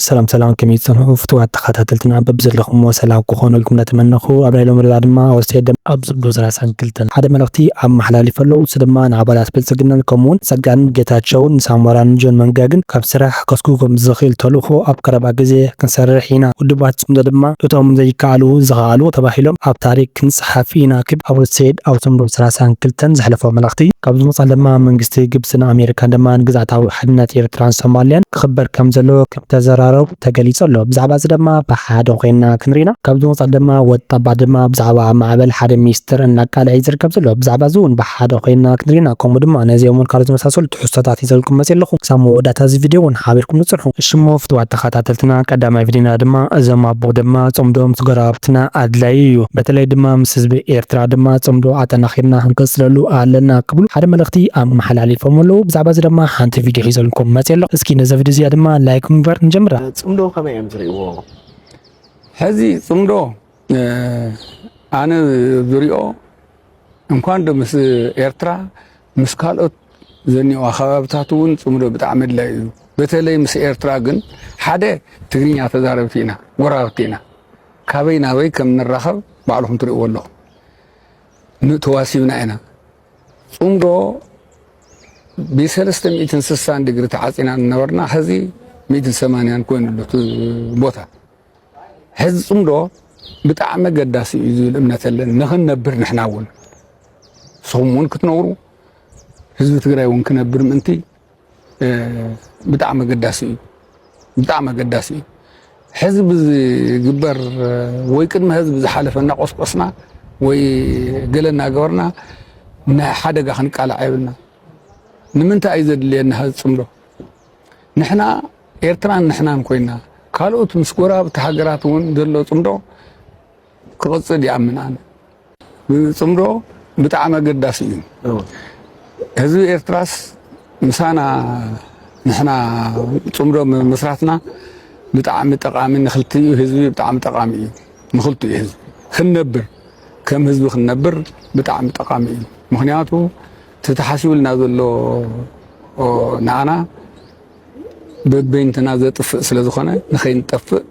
ሰላም ሰላም ከመይ ትጸንሑ ፍቱዋት ተኻታተልትና በብዘለኹምዎ ሰላም ክኾነልኩም እንዳተመነኹ ኣብ ናይ ሎሚ ርብዓ ድማ ኣብ ኣስቴር ደም ኣብ ዝብሉ ሰላሳን ክልተን ሓደ መልእኽቲ ኣመሓላሊፈ ኣለኹ ንሱ ድማ ንኣባላት ብልጽግናን ከምኡውን ጸጋንን ጌታቸውን ንሳሞራን ንጆን መንጋግን ካብ ስራሕ ከስጉጎም ዝኽእል ተልእኾ ኣብ ቀረባ ግዜ ክንሰርሕ ኢና ውድባት ጽምዶ ድማ እቶም ዘይከኣሉ ዝኸኣሉ ተባሂሎም ኣብ ታሪክ ጸሓፊ ናኪብ ኣቡ ሰይድ ኣብ ሰንቡር ሰላሳን ክልተን ዘሕለፎ መልእኽቲ፣ ካብ ዝመጽኣ ለማ መንግስቲ ግብጽን ኣሜሪካን ድማ ንግዝኣታዊ ሓድነት ኤርትራን ሶማልያን ክኽበር ከም ዘለዎ ከም ተዘራረቡ ተገሊጹ ኣሎ። ብዛዕባ'ዚ ድማ ብሓደ ኮይንና ክንርኢና። ካብ ዝመጽኣ ለማ ወዲ ኣባ ድማ ብዛዕባ ኣብ ማዕበል ሓደ ሚስጥር እናቃልዐ'ዩ ዝርከብ ዘሎ። ብዛዕባ'ዚ'ውን ብሓደ ኮይንና ክንርኢና ከምኡ ድማ ነዚኦምን ካልኦት ዝመሳሰሉትን። ትሕዝቶታት ሒዘልኩም መጽየ ኣለኹ ክሳብ መወዳእታ እዚ ቪድዮ ውን ሓቢርኩም ንጽንሑ። እሺሞ ፍትዋት ተኻታተልትና ቀዳማይ ቪድዮና ድማ እዞም ኣቦ ድማ ጽምዶም ምስ ጎረባብትና ኣድላዪ እዩ በተለይ ድማ ምስ ህዝቢ ኤርትራ ድማ ጽምዶ ኣጠናኺርና ክንቅጽለሉ ኣለና ክብሉ ሓደ መልእኽቲ ኣመሓላሊፎም ኣለዉ ብዛዕባ እዚ ደማ ሓንቲ ቪድዮ ሒዘልኩም መጽየ ኣለኹ እስኪ ነዛ ቪድዮ እዚኣ ድማ ላይክ ብምግባር ንጀምራ። ጽምዶ ከመይ እዮም ዝርእይዎ ሕዚ ጽምዶ? ኣነ ዝሪኦ እንኳን ዶ ምስ ኤርትራ ምስ ካልኦት ዘኒኦ ከባብታት እውን ፅምዶ ብጣዕሚ ኣድላይ እዩ በተለይ ምስ ኤርትራ ግን ሓደ ትግርኛ ተዛረብቲ ኢና ጎረባብቲ ኢና ካበይ ናበይ ከም ንራኸብ ባዕልኹም ትሪእዎ ኣለኹም ንተዋሲብና ኢና ፅምዶ ብሰለስተ ሚእትን ስሳን ዲግሪ ተዓፂና እናበርና ሕዚ ሚእትን ሰማንያን ኮይኑ ኣሎ ቦታ ሕዚ ጽምዶ ብጣዕሚ ኣገዳሲ እዩ ዝብል እምነት ኣለኒ ንክንነብር ንሕና እውን ንስኹም እውን ክትነብሩ ህዝቢ ትግራይ እውን ክነብር ምእንቲ ብጣዕሚ ኣገዳሲ እዩ ብጣዕሚ ኣገዳሲ እዩ ሕዚ ብዝግበር ወይ ቅድሚ ህዝቢ ዝሓለፈ እናቆስቆስና ወይ ገለ እናገበርና ንሓደጋ ክንቃላዕ የብልና ንምንታይ እዩ ዘድልየና ህዝቢ ጽምዶ ንሕና ኤርትራን ንሕናን ኮይና ካልኦት ምስ ጎረባብቲ ሃገራት እውን ዘሎ ጽምዶ ክቕጽል ይኣምን ኣነ። ጽምዶ ብጣዕሚ ኣገዳሲ እዩ። ህዝቢ ኤርትራስ ምሳና ንሕና ጽምዶ ምስራትና ብጣዕሚ ጠቃሚ ንክልቲኡ ህዝቢ ብጣዕሚ ጠቃሚ እዩ። ንክልቲኡ ህዝቢ ክንነብር ከም ህዝቢ ክንነብር ብጣዕሚ ጠቃሚ እዩ። ምክንያቱ እቲ ተሓሲቡልና ዘሎ ንዓና በበይንትና ዘጥፍእ ስለ ዝኾነ ንኸይንጠፍእ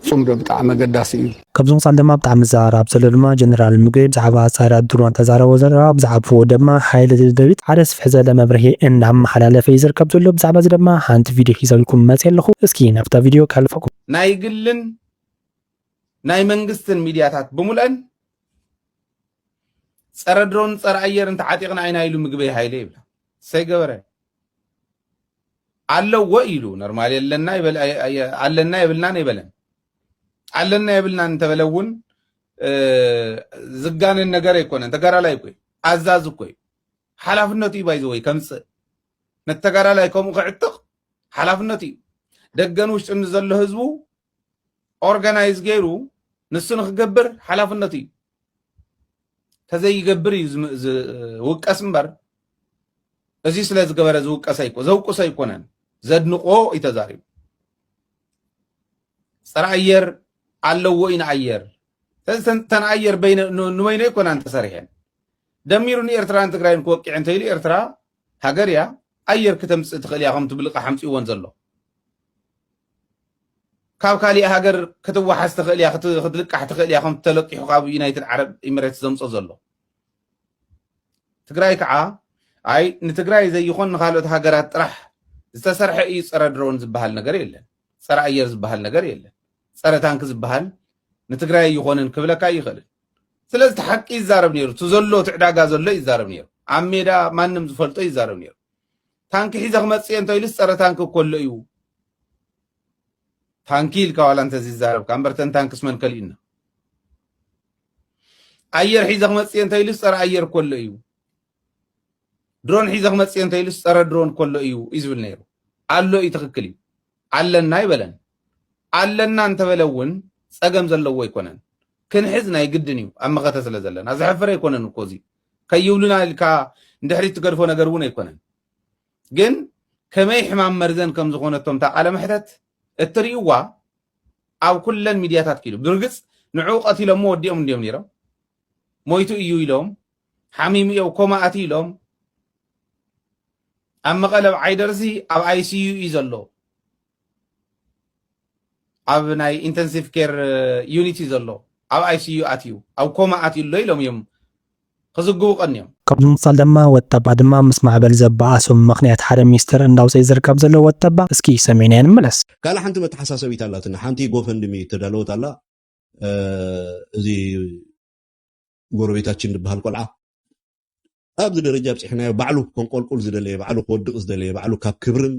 ፅምዶ ብጣዕሚ ኣገዳሲ እዩ። ካብዚ ወፃኢ ድማ ብጣዕሚ ዝዘራረብ ዘሎ ድማ ጀነራል ምግበይ ብዛዕባ ኣፃዳድኣ ድሮን ተዛረቦ ዘረባ ብዛዕባ ፉኦ ድማ ሓይሊ ደደቢት ሓደ ስፍሕ ዘለ መብርሂ እናመሓላለፈ እዩ ዝርከብ ዘሎ ብዛዕባ እዚ ድማ ሓንቲ ቪድዮ ሒዘልኩም መፅየ ኣለኹ እስኪ ናብታ ቪድዮ ከሕልፈኩም። ናይ ግልን ናይ መንግስትን ሚድያታት ብሙልኣን ፀረ ድሮን ፀረ ኣየር እንተዓጢቕና ኢና ኢሉ ምግበይ ሃይለ ይብላ ሰይ ገበረ ኣለዎ ኢሉ ኖርማል ኣለና ኣለና የብልናን የበለን ኣለና የብልናን እንተበለ እውን ዝጋነን ነገር ኣይኮነን ተጋዳላይ እኮ ኣዛዝ እኮ እዩ ሓላፍነቱ እዩ ባይዘወይ ከምፅእ ነተጋዳላይ ከምኡ ክዕጥቕ ሓላፍነቱ እዩ ደገን ውሽጥን ዘሎ ህዝቡ ኦርጋናይዝ ገይሩ ንሱ ንክገብር ሓላፍነቱ እዩ ተዘይገብር እዩ ዝውቀስ እምበር እዚ ስለ ዝገበረ ዝውቀሰ ይኮ ዘውቅሶ ኣይኮነን ዘድንቆ እዩ ተዛሪቡ ፀረ ኣየር ኣለዎ እዩ ንኣየር ስለዚ ተን ኣየር ንበይነ ኣይኮናን ተሰሪሐን ደሚሩ ንኤርትራን ትግራይን ክወቂዕ እንተኢሉ ኤርትራ ሃገር እያ ኣየር ክተምጽእ ትኽእል እያ ከምቲ ብልቓሕ ኣምጺእወን ዘሎ ካብ ካሊእ ሃገር ክትዋሓስ ትኽእል እያ ክትልቃሕ ትኽእል እያ ከምቲ ተለቂሑ ካብ ዩናይትድ ዓረብ ኢሚሬትስ ዘምጾ ዘሎ ትግራይ ከዓ ኣይ ንትግራይ ዘይኾን ንካልኦት ሃገራት ጥራሕ ዝተሰርሐ እዩ ፀረ ድሮን ዝበሃል ነገር የለን ፀረ ኣየር ዝበሃል ነገር የለን ፀረ ታንክ ዝበሃል ንትግራይ ይኾንን ክብለካ ይኽእልን ስለዚ እቲ ሓቂ ይዛረብ ነይሩ እቲ ዘሎ እቲ ዕዳጋ ዘሎ ይዛረብ ነይሩ ኣብ ሜዳ ማንም ዝፈልጦ ይዛረብ ነይሩ ታንኪ ሒዘ ክመፅእ እየ እንተኢሉስ ፀረ ታንኪ ኮሎ እዩ ታንኪ ኢልካ ዋላ እንተዝዛረብካ እምበር ተን ታንክስ መን ከሊኡና ኣየር ሒዘ ክመፅእ እየ እንተኢሉስ ፀረ ኣየር ኮሎ እዩ ድሮን ሒዘ ክመፅእ እየ እንተኢሉስ ፀረ ድሮን ኮሎ እዩ እዩ ዝብል ነይሩ ኣሎ እዩ ትኽክል እዩ ኣለና ይበለን ኣለና እንተበለ እውን ፀገም ዘለዎ ኣይኮነን። ክንሕዝ ናይ ግድን እዩ ኣብ መኸተ ስለ ዘለና። ዘሕፍር ኣይኮነን እኮ እዚ ከይብሉና ኢልካ ንድሕሪት ትገድፎ ነገር እውን ኣይኮነን። ግን ከመይ ሕማም መርዘን ከም ዝኾነቶም እታ ቃለ መሕተት እትርእዩዋ ኣብ ኩለን ሚድያታት ክኢሉ ብርግፅ ንዕኡ ቀቲሎሞ ወዲኦም እንዲዮም ነይሮም ሞይቱ እዩ ኢሎም ሓሚሙ እዮ ኮማ ኣትዩ ኢሎም ኣብ መቐለ ኣብ ዓይደርሲ ኣብ ኣይሲዩ እዩ ዘሎ ኣብ ናይ ኢንተንሲቭ ኬር ዩኒት እዩ ዘሎ ኣብ ኣይሲዩ ኣትዩ ኣብ ኮማ ኣትዩ ኣሎ ኢሎም እዮም ክዝግቡ ቀንዮም። ካብ ብምቕጻል ድማ ወጠባ ድማ ምስ ማዕበል ዘበኣሶም ምኽንያት ሓደ ሚስጥር እንዳውጸኢ ዝርከብ ዘሎ ወጠባ እስኪ ሰሚዕናዮ ንምለስ። ካልእ ሓንቲ መተሓሳሰቢት ኣላትና ሓንቲ ጎፈንድሚ እተዳለወት ኣላ እዚ ጎረቤታችን ዝበሃል ቆልዓ ኣብዚ ደረጃ ኣብፂሕናዮ ባዕሉ ከንቆልቁል ዝደለየ ባዕሉ ክወድቕ ዝደለየ ባዕሉ ካብ ክብርን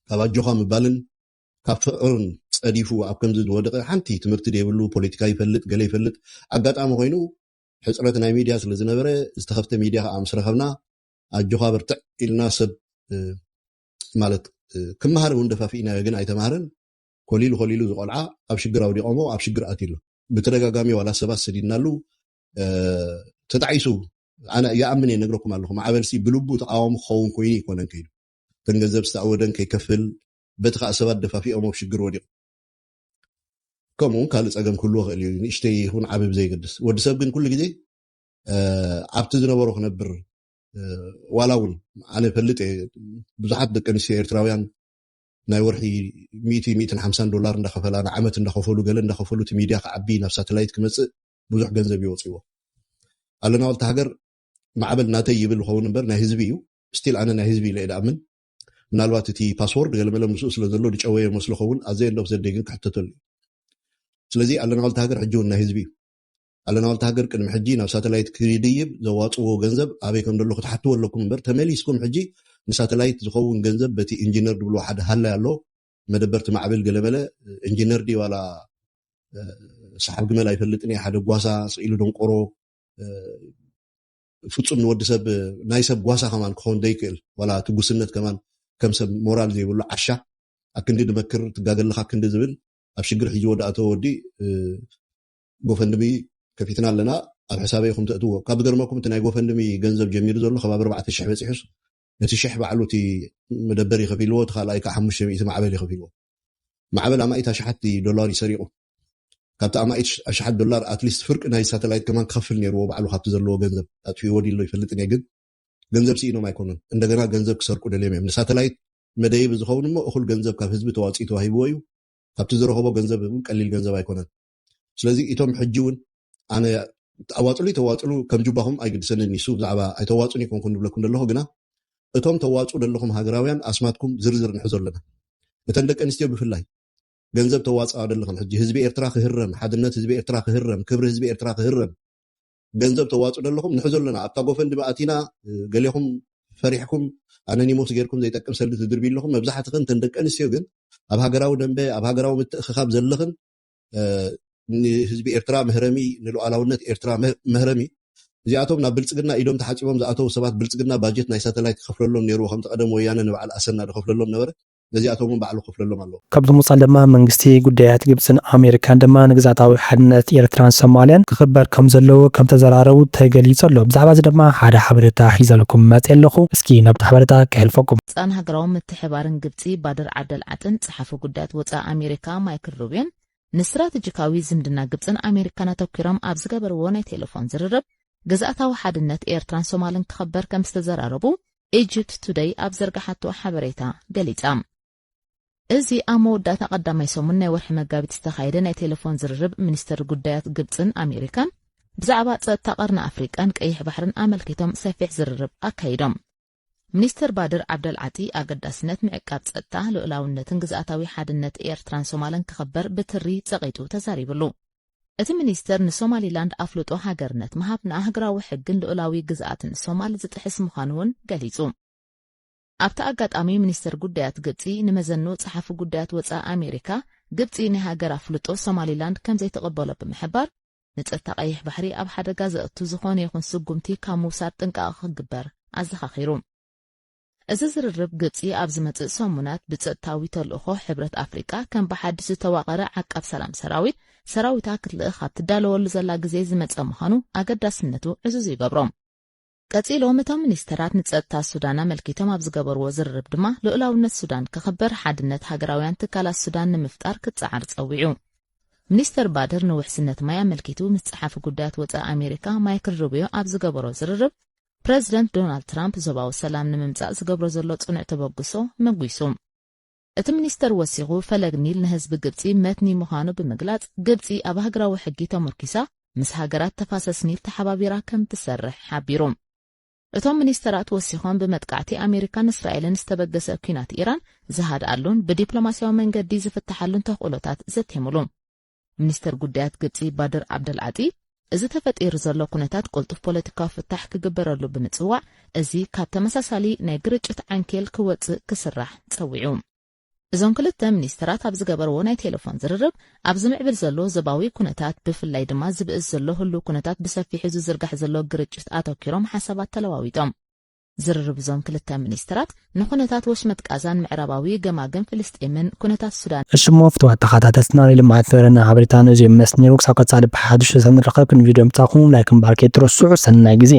ካብ ኣጆኻ ምባልን ካብ ፍዑርን ጸዲፉ ኣብ ከምዚ ዝወደቐ ሓንቲ ትምህርቲ ዘይብሉ ፖለቲካ ይፈልጥ ገለ ይፈልጥ ኣጋጣሚ ኮይኑ ሕፅረት ናይ ሚድያ ስለ ዝነበረ ዝተኸፍተ ሚድያ ከዓ ምስ ረኸብና ኣጆኻ በርትዕ ኢልና ሰብ ማለት ክመሃር እውን ደፋፊእናዮ ግን ኣይተማሃረን ኮሊሉ ኮሊሉ ዝቆልዓ ኣብ ሽግር ኣውዲቆሞ ኣብ ሽግር ኣትሉ ብተደጋጋሚ ዋላ ሰባት ሰዲድናሉ ተጣዒሱ ኣነ ይኣምን እየ ነግረኩም ኣለኹ ማዕበልሲ ብልቡ ተቃወሙ ክኸውን ኮይኑ ይኮነን ከይዱ እተን ገንዘብ ዝተኣወደን ከይከፍል በቲ ከኣ ሰባት ደፋፊኦም ኣብ ሽግር ወዲቁ ከምኡ ውን ካልእ ጸገም ክህልዎ ክእል እዩ ንእሽተይ ይኹን ዓቢ ብዘይገድስ ወዲ ሰብ ግን ኩሉ ግዜ ኣብቲ ዝነበሮ ክነብር ዋላ እውን ኣነ ፈልጥ እየ ብዙሓት ደቂ ኣንስትዮ ኤርትራውያን ናይ ወርሒ ሚእቲ ሚእትን ሓምሳን ዶላር እንዳኸፈላ ንዓመት እንዳኸፈሉ ገለ እንዳኸፈሉ እቲ ሚድያ ክዓቢ ናብ ሳተላይት ክመፅእ ብዙሕ ገንዘብ ይወፅዎ ኣለና ወልቲ ሃገር ማዕበል ናተይ ይብል ዝኸውን እምበር ናይ ህዝቢ እዩ ስቲል ኣነ ናይ ህዝቢ ኢለ እየ ድኣምን ምናልባት እቲ ፓስዎርድ ገለመለ ምስኡ ስለ ዘሎ ድጨወዮ መስሎ ኸውን ኣዘ ኤንድ ኦፍ ዘ ደይ ግን ክሕተተሉ እዩ ስለዚ ኣለናዋልቲ ሃገር ሕጂ እውን ናይ ህዝቢ እዩ ኣለናዋልቲ ሃገር ቅድሚ ሕጂ ናብ ሳተላይት ክድይብ ዘዋፅዎ ገንዘብ ኣበይ ከም ደሎ ክትሓትዎ ኣለኩም እምበር ተመሊስኩም ሕጂ ንሳተላይት ዝኸውን ገንዘብ በቲ ኢንጂነር ድብልዎ ሓደ ሃላይ ኣሎ መደበር ትማዕብል ገለመለ ኢንጂነር ዲ ዋላ ሰሓብ ግመል ኣይፈልጥን እየ ሓደ ጓሳ ስኢሉ ደንቆሮ ፍጹም ንወዲ ሰብ ናይ ሰብ ጓሳ ከማን ክኾን ዘይክእል ዋላ እቲ ጉስነት ከማን ከም ሰብ ሞራል ዘይብሉ ዓሻ ኣክንዲ ድመክር ትጋገ ኣለኻ ክንዲ ዝብል ኣብ ሽግር ሒዝዎ ድኣተወ ወዲ ጎፈንድሚ ከፊትና ኣለና ኣብ ሕሳበይ ኢኹም ተእትዎ ካብ ዝገርመኩም እቲ ናይ ጎፈንድሚ ገንዘብ ጀሚሩ ዘሎ ከባቢ ኣርባዕተ ሽሕ በጺሑስ እቲ ሽሕ ባዕሉ እቲ መደበሪ ከፊልዎ እቲ ካልኣይ ከዓ ሓሙሽተ ሚእቲ ማዕበል ይኸፊልዎ ማዕበል ኣማኢት ኣሽሓት ዶላር እዩ ሰሪቑ። ካብቲ ኣማኢት ኣሽሓት ዶላር ኣትሊስት ፍርቂ ናይ ሳተላይት ከማን ክኸፍል ኔርዎ ባዕሉ ካብቲ ዘለዎ ገንዘብ። ኣጥፊእዎ ድዩ ኣሎ ኣይፈልጥን እየ ግን ገንዘብ ስኢኖም ኣይኮኑን እንደገና ገንዘብ ክሰርቁ ደልዮም እዮም። ንሳተላይት መደየቢ ዝኸውን እሞ እኹል ገንዘብ ካብ ህዝቢ ተዋጽኡ ተዋሂብዎ እዩ። ካብቲ ዝረኸቦ ገንዘብ እውን ቀሊል ገንዘብ ኣይኮነን። ስለዚ እቶም ሕጂ እውን ኣነ ኣዋፅሉ ተዋፅሉ ከም ጁባኹም ኣይግድሰንን ይሱ ብዛዕባ ኣይተዋፁን ይኮንኩን ንብለኩም ዘለኹ ግና እቶም ተዋፁ ዘለኹም ሃገራውያን ኣስማትኩም ዝርዝር ንሕዞ ኣለና እተን ደቂ ኣንስትዮ ብፍላይ ገንዘብ ተዋፅኣ ዘለኹም ሕጂ ህዝቢ ኤርትራ ክህረም ሓድነት ህዝቢ ኤርትራ ክህረም ክብሪ ህዝቢ ኤርትራ ክህረም ገንዘብ ተዋፅኡ ዘለኹም ንሕዞ ኣለና ኣብታ ጎፈንዲ መኣቲና ገሌኹም ፈሪሕኩም ኣነኒሞስ ጌርኩም ዘይጠቅም ሰልዲ ትድርቢ ኣለኹም መብዛሕትኽን እተን ደቂ ኣንስትዮ ግን ኣብ ሃገራዊ ደንበ ኣብ ሃገራዊ ምትእኽኻብ ዘለኽን ንህዝቢ ኤርትራ መህረሚ ንሉዓላውነት ኤርትራ መህረሚ እዚኣቶም ናብ ብልጽግና ኢዶም ተሓጺቦም ዝኣተዉ ሰባት ብልጽግና ባጀት ናይ ሳተላይት ክኸፍለሎም ኔርዎ ከምቲ ቀደም ወያነ ንበዓል ኣሰና ድኸፍለሎም ነበረ ነዚኣቶም ውን ባዕሉ ክኸፍለሎም ኣለዎ። ካብዚ ምውጻእ ድማ መንግስቲ ጉዳያት ግብጽን ኣሜሪካን ድማ ንግዝኣታዊ ሓድነት ኤርትራን ሶማልያን ክኽበር ከም ዘለዎ ከም ተዘራረቡ ተገሊጹ ኣሎ። ብዛዕባ እዚ ድማ ሓደ ሓበሬታ ሒዘልኩም መጺኤ ኣለኹ። እስኪ ናብቲ ሓበሬታ ከሕልፈኩም። ጻን ሃገራዊ ምትሕባርን ግብጺ ባድር ዓደል ዓጥን፣ ሚኒስተር ሓፈ ጉዳያት ወጻኢ ኣሜሪካ ማይክል ሩቢዮን ንስትራተጂካዊ ዝምድና ግብጽን ኣሜሪካን ኣተኲሮም ኣብ ዝገበርዎ ናይ ቴለፎን ዝርርብ ግዝኣታዊ ሓድነት ኤርትራን ሶማልን ክኸበር ከም ዝተዘራረቡ ኢጅፕት ቱደይ ኣብ ዘርጋሓቶ ሓበሬታ ገሊጻ። እዚ ኣብ መወዳእታ ቀዳማይ ሰሙን ናይ ወርሒ መጋቢት ዝተኻየደ ናይ ቴሌፎን ዝርርብ ሚኒስትር ጉዳያት ግብፅን ኣሜሪካን ብዛዕባ ጸጥታ ቀርኒ ኣፍሪቃን ቀይሕ ባሕርን ኣመልኪቶም ሰፊሕ ዝርርብ ኣካይዶም ሚኒስተር ባድር ዓብደልዓጢ፣ ኣገዳስነት ምዕቃብ ጸጥታ፣ ልኡላውነትን ግዝኣታዊ ሓድነት ኤርትራን ሶማለን ክኽበር ብትሪ ጸቒጡ ተዛሪቡሉ። እቲ ሚኒስተር ንሶማሊላንድ ኣፍልጦ ሃገርነት ምሃብ ንኣህግራዊ ሕግን ልኡላዊ ግዝኣትን ሶማል ዝጥሕስ ምዃኑ'ውን ገሊጹ። ኣብቲ ኣጋጣሚ ሚኒስተር ጉዳያት ግብጺ ንመዘኑ ጸሓፊ ጉዳያት ወጻኢ ኣሜሪካ፣ ግብጺ ናይ ሃገር ኣፍልጦ ሶማሊላንድ ከምዘይትቕበሎ ብምሕባር፣ ንጸጥታ ቀይሕ ባሕሪ ኣብ ሓደጋ ዘእቱ ዝኾነ ይኹን ስጉምቲ ካብ ምውሳድ ጥንቃቐ ክግበር ኣዘኻኺሩ። እዚ ዝርርብ ግብጺ ኣብ ዝመጽእ ሰሙናት ብጸጥታዊ ተልእኾ ሕብረት ኣፍሪቃ ከም ብሓድሽ ዝተዋቐረ ዓቃብ ሰላም ሰራዊት ሰራዊታ ክትልእኽ ኣብ ትዳለወሉ ዘላ ግዜ ዝመጸ ምዃኑ ኣገዳስነቱ ዕዙዝ ይገብሮ። ቀጺሎም እቶም ሚኒስተራት ንጸጥታ ሱዳን ኣመልኪቶም ኣብ ዝገበርዎ ዝርርብ ድማ ልኡላውነት ሱዳን ክኽበር ሓድነት ሃገራውያን ትካላት ሱዳን ንምፍጣር ክጸዓር ጸዊዑ። ሚኒስተር ባድር ንውሕስነት ማይ ኣመልኪቱ ምስ ጸሓፊ ጉዳያት ወጻኢ ኣሜሪካ ማይክል ሩብዮ ኣብ ዝገበሮ ዝርርብ ፕረዚደንት ዶናልድ ትራምፕ ዞባዊ ሰላም ንምምጻእ ዝገብሮ ዘሎ ጽኑዕ ተበግሶ መጒሱ። እቲ ሚኒስተር ወሲኹ፣ ፈለግ ኒል ንህዝቢ ግብጺ መትኒ ምዃኑ ብምግላጽ፣ ግብጺ ኣብ ሃገራዊ ሕጊ ተሞርኪሳ ምስ ሃገራት ተፋሰስ ኒል ተሓባቢራ ከም ትሰርሕ ሓቢሩ። እቶም ሚኒስተራት ወሲኾም፣ ብመጥቃዕቲ ኣሜሪካን እስራኤልን ዝተበገሰ ኲናት ኢራን ዝሃድኣሉን ብዲፕሎማስያዊ መንገዲ ዝፍትሓሉን ተኽእሎታት ዘቴሙሉ። ሚኒስተር ጉዳያት ግብጺ ባድር ዓብደልዓጢ፣ እዚ ተፈጢሩ ዘሎ ኩነታት ቅልጡፍ ፖለቲካዊ ፍታሕ ክግበረሉ ብምጽዋዕ፣ እዚ ካብ ተመሳሳሊ ናይ ግርጭት ዓንኬል ክወጽእ ክስራሕ ጸዊዑ። እዞም ክልተ ሚኒስተራት ኣብ ዝገበርዎ ናይ ቴለፎን ዝርርብ፣ ኣብ ዝምዕብል ዘሎ ዞባዊ ኩነታት፣ ብፍላይ ድማ ዝብእስ ዘሎ ህሉው ኩነታት ብሰፊሑ ዝዝርጋሕ ዘሎ ግርጭት ኣተኪሮም ሓሳባት ተለዋዊጦም። ዝርርብ እዞም ክልተ ሚኒስትራት፣ ንኩነታት ወሽመጥ ቃዛን ምዕራባዊ ገማግም ፍልስጤምን ኩነታት ሱዳንን። እሺ እሞ ፍትዋት ተኻታተልትና ናይ ልምዓት ዘረና ሓበሬታና እዚኦም መስኒሩ ክሳብ ቀፃሊ ብሓዱሽ ሰሰን ንራኸብ ክንድ ቪድዮ ምፃኹም ላይክ ምባርክ ኣይትረስዑ ሰናይ ግዜ።